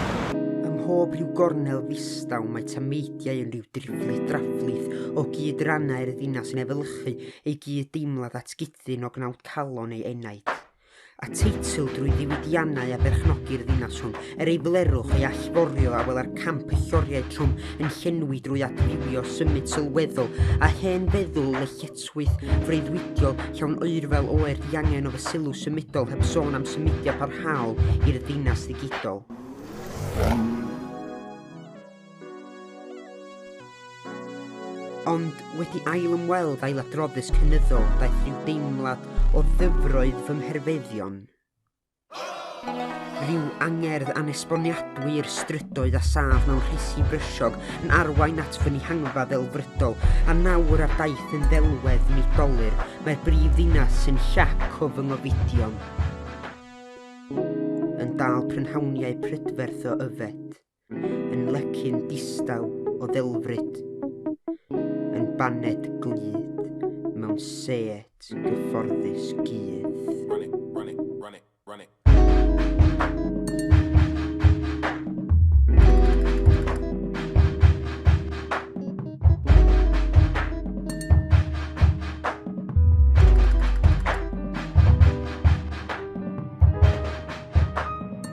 Ym mhob rhyw gornel ddistaw mae tameidiau yn rhyw driplyd draflith o gyd-rannau'r ddinas yn efelychu eu gyd-deimlad at gyd-ddyn o gnawd calon ei enaid. A teitl drwy ddiwydiannau a berchnogi'r ddinas hwn, er ei blerwch, ei allforio, a wela'r camp y lloriau trwm yn llenwi drwy adfywio symud sylweddol a hen feddwl lletchwith swydd freuddwydiol llawn oerfel oer diangen o fy sylw symudol heb sôn am symudiad parhaol i'r ddinas ddigidol. Ond wedi ail ymweld â'i ladroddus cynyddol daeth rhyw deimlad o ddyfroedd fy mherfeddion. Rhyw angerdd anesboniadwy i'r strydoedd a sâf mewn rhesi brysiog yn arwain at fy nhihangfa ddelfrydol a nawr ar daith yn ddelwedd Nadolig mae'r brif ddinas sy'n siap o fy ngofidion yn dal prynhawniau prydferth o yfed. Yn lecyn distaw o ddelfryd Yn baned glyd mewn set gyfforddus gudd.